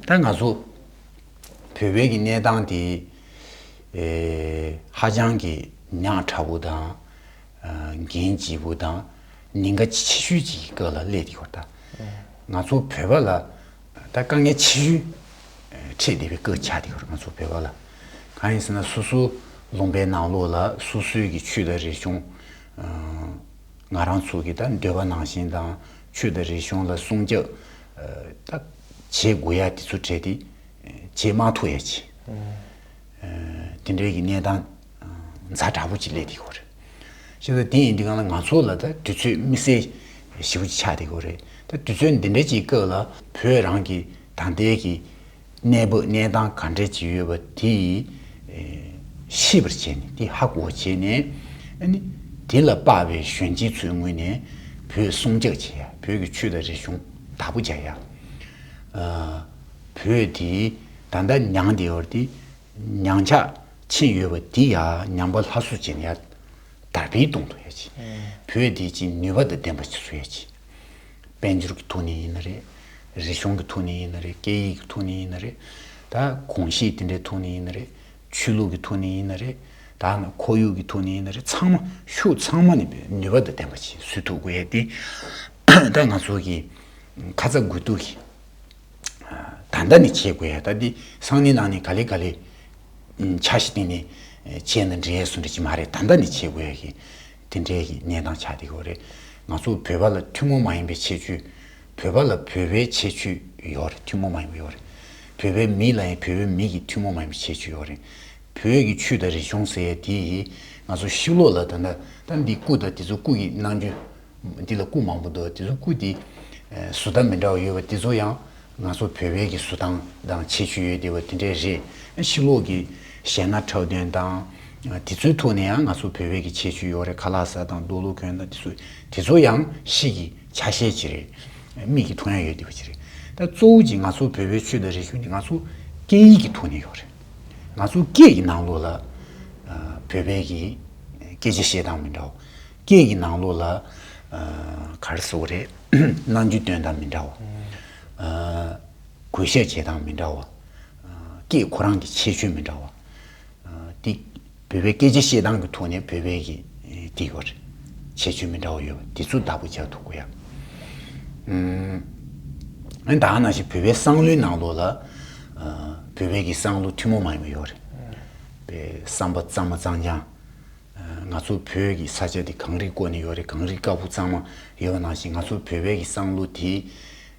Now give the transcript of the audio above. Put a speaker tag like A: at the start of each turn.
A: ད་ང་ཚོ་བོད་པའི་གི་གནས་སྟངས་དེ་ཧ་ཅང་གི་ཉག་ཕྲ་བོ་དང་འགན་ལྕི་བོ་དང་ཉེན་ཁ་ཆེ་ཤོས་ཅིག་གི་སྐབས་ལ་སླེབས་བསྡད་ཡོད། ང་ཚོ་བོད་པ་ལ་ད་དཀའ་ངལ་ཆེ་ཤོས་འཕྲད་བསྡད་པའི་སྐབས་ཆགས་བསྡད་ཡོད་ང་ཚོ་བོད་པ་ལ། གང་ཡིན་ཟེར་ན་སོ་སོ་ལུང་པའི་ནང་ལོགས་ལ་སོ་སོའི་གི་ཆོས་དང་རིག་གཞུང་ང་རང་ཚོ་གི་ད་འདོད་པ་ནང་བཞིན་དང་ཆོས་དང་རིག་གཞུང་ལ་སྲུང་སྐྱབས་ད། བྱེད་དགོས་ཡ་དེ་ཚོ་བྲལ་ཏེ་བྱེད་མ་ཐུབ་ཡ་ཅི། དེ་འདྲའི་གི་གནས་སྟངས་མཛའ་དྲག་པོ་ཅིག་སླེབས་དེ་གོ་རེད། ཤེས་ཚོ་དེ་ཡིན་དུས་གང་ལ་ང་ཚོ་ལ་ད་དུས་ཚོད་དམིགས་བསལ་ཞེ་བོ་ཅིག་ཆགས་དེ་གོ་རེད། ད་དུས་ཚོད་འདི་འདྲའི་ཅིག་སྐབས་ལ་བོད་རང་གི་ད་ལྟའི་གི་གནས་བབ་གནས་སྟངས་ག་འདྲའི་ཅིག་ཡོད་པ་དེ་ཡིས་ཤེས་པར་བྱས་ནས་དེ་ཧ་གོ་བ་བྱས་ནས་ནི་དེ་ལ་དཔག་པའི་གཞོན་སྐྱེས་ཚོའི་ངོས་ནས་བོད་སྲུང་བཅག་བྱེད་ཡ་བོད་ཀྱི་ཆོས་དང་རིག་གཞུང། དྭགས་པོ་བྱ་ཡ། བོད་དེ་ད་ལྟ་ཉང་དེ་ཡོར་དེ་ཉང་ཆག་ཆེན་ཡོད་པ་དེ་ཡ་ཉང་པ་ལྷ་བཟོ་བྱེད་ན་ཡ་དར་འཕེལ་གཏོང་ཐུབ་ཡ་ཆེ། བོད་དེ་ཅིང་ནུས་པ་དང་ལྡན་པ་བྱེད་ས་ཡ་ཆེ། དཔལ་འབྱོར་གྱི་ཐོག་ནས་ཡིན་ན་རེད། རིག་གཞུང་གྱི་ཐོག་ནས་ཡིན་ན་རེད་སྐད་ཡིག་གྱི་ཐོག་ནས་ཡིན་ན་རེད། ད་གོང་གཞིས་དེ་འདྲའི་ཐོག་ནས་ཡིན་ན་རེད། ཆོས་ལུགས་ཀྱི་ཐོག་ནས་ཡིན་ན་རེད་དཱ་ནི་ཁོར་ཡུག་གི་ཐོག་ནས་ཡིན་ན་རེད་ཚང་མ་ཤུགས་ཚང་མ་ནས་ནུས་པ་དང་ལྡན་པ་ཞིག་བཟོས་ཐུབ་དགོས་ཡ་དེ་ད་ང་ཚོ་གི་ཁ་ཚ་དགོས་གཏུགས་ཀྱི་ད་ལྟ་ནས་བྱེད་དགོས་ཡ་ད་དེ་སང་ནི་ལང་ནི་ག་ལེ་ག་ལེ་ཆ་ཞིག་སྟེང་ནས་བྱས་ན་འགྲིག་ཡ་སུ་འགྲིག་གི་མ་རེད་ད་ལྟ་ནས་བྱེད་དགོས་ཡ་གི། དེ་འདྲའི་གནས་སྟངས་ཆགས་འདི་ཡོད་རེད། ང་ཚོ་བོད་པ་ལ་ཐུན་མོང་མ་ཡིན་པའི་ཁྱད་ཆོས། བོད་པ་ལ་བོད་པའི་ཁྱད་ཆོས་ཡོད་རེད་ཐུན་མོང་མ་ཡིན་པ་ཡོད་རེད། བོད་པའི་མི་ལ་ཡང་བོད་པའི་མི་གི་ཐུན་མོང་མ་ཡིན་པའི་ཁྱད་ཆོས་ཡོད་རེད། བོད་ཀྱི་ཆོས་དང་རིག་གཞུང་ཟེར་ཡ་དེ་ཡིས་ང་ཚོ་ཤི་ལོག་ལ་དང་ད་འདི་སྐུ་དང་དེ་ཚོ་སྐུ་གི་ནང་རྒྱུ། འདི་ལ་སྐུ་མང་པོ་འདུག་དེ་ཚོ་སྐུ་དེ། བཟོ་ལྟ་མི་འདྲ་བ་ཡོད་པ་དེ་ཚོ་ཡང་ང་ཚོ་བོད་བོད་ཀྱི་གཟུ་དང་དང་ཆེ་ཆུ་ཡོད་དེ་བ་དེ་འདྲས་རེད་ཕྱི་ལོག་གི་གཞས་སྣ་ཁྲའུ་དོན་དང་དེ་ཚོའི་ཐུག་ནས་ཡང་ང་ཚོ་བོད་བོད་ཀྱི་ཆེ་ཆུ་ཡོག་རེད་ཁ་ལག་ཟ་དང་རྡོ་ལུག་གོན་དང་དེ་ཚོ་དེ་ཚོ་ཡང་གཤིས་ཀྱི་ཆ་ཤས་ཅིག་རེད་མིག་གི་ཐུག་ཡང་ཡོད་དེ་བ་ཅིག་རེད་ད་གཙོ་བོ་གྱི་ང་ཚོ་བོད་བོད་ཆུ་དང་རི་ཆུ་ནི་ང་ཚོ་སྐད་ཡིག་གི་ཐུག་ནས་ཡོག་རེད་ང་ཚོ་སྐད་ཀྱི་ནང་ལོག་ལ་བོད་བོད་ཀྱི་སྐད་ཆ་བཤད་སྟངས་མི་འདྲ་བ་སྐད་ཀྱི་ནང་ལོགས་ལ། གར་སོགས་རེད། གནང་རྒྱུ་དོན་དང་མི་འདྲ་བ། གོས་ཤ་བྱེད་སྟངས་མི་འདྲ་བ། སྐད་ཁོ་རང་གི་ཁྱད་ཆོས་མི་འདྲ་བ། འདི་བོད་པའི་སྐད་ཆ་བཤད་སྟངས་ཀྱི་ཐོག་ནས་བོད་པའི་གི་འདི་གོ་རེད། ཁྱད་ཆོས་མི་འདྲ་བ་ཡོད་པ་འདི་ཚོ་བདག་པོ་བྱ་ཐུབ་དགོས་ཡ། ཨན་དག་ནང་བཞིན་བོད་པའི་སང་ལོའི་ནང་ལོགས་ལ། བོད་པའི་གི་སང་ལོ་ཐུན་མོང་མ་ཡིན་པ་ཡོད་རེད། བསམ་པ་གཙང་མ་གཙང་རྐྱང། ང་ཚོ་བོད་ཀྱི་ས་ཆ་འདི་གངས་རི་བསྐོར་ནས་ཡོད་རེད་གངས་རི་དཀར་པོ་གཙང་མ་ཡོད་པ་ནང་བཞིན་ང་ཚོ་བོད་པའི་གི་བསང་ལུགས་དེ